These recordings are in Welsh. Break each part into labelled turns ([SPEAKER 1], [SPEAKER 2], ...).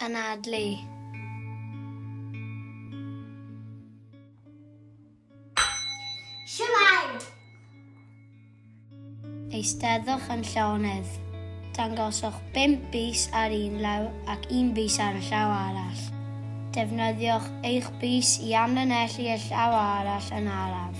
[SPEAKER 1] anadlu. eisteddwch yn llonydd. Dangoswch 5 bus ar un law ac un bus ar y llaw arall. Defnyddiwch eich bus i amlinellu y llaw arall yn araf.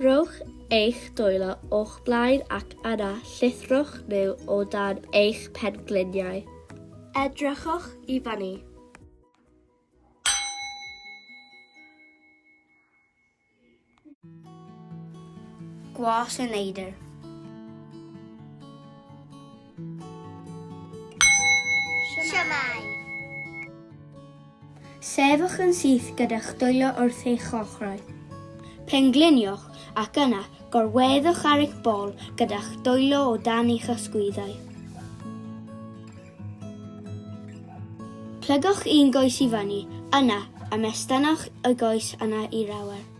[SPEAKER 1] Rhowch eich dwylo o'ch blaen ac yna llithrwch nhw o dan eich pengliniau. Edrychwch i fyny. Gwas y neidr. Siamai. Sefwch yn syth gyda'ch dwylo wrth eich ochrau. Pengliniwch ac yna gorweddwch ar eich bol gyda'ch dwylo o dan eich ysgwyddau. Plygwch un goes i fyny, yna ymestynwch y goes yna i'r awyr.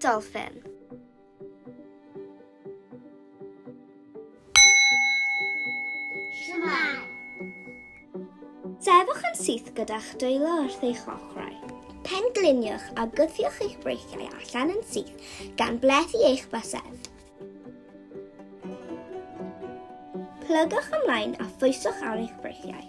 [SPEAKER 1] Dolphin. Siwmai. Sefwch yn syth gyda'ch dwylo wrth eich ochrau. Pengliniwch a gwthiwch eich breithiau allan yn syth gan blethu eich bysedd. Plygwch ymlaen a phwyswch ar eich breithiau.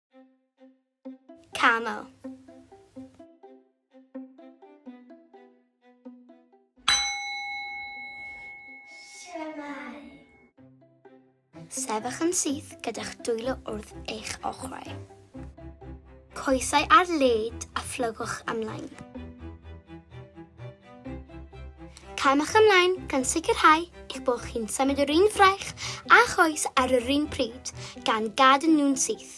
[SPEAKER 1] Camel. Sefych yn syth gyda'ch dwylo wrth eich ochrau. Coesau ar led a phlygwch ymlaen. Caewch ymlaen gan sicrhau eich bod chi'n symud yr un fraich a choes ar yr un pryd, gan gadw nhw'n syth.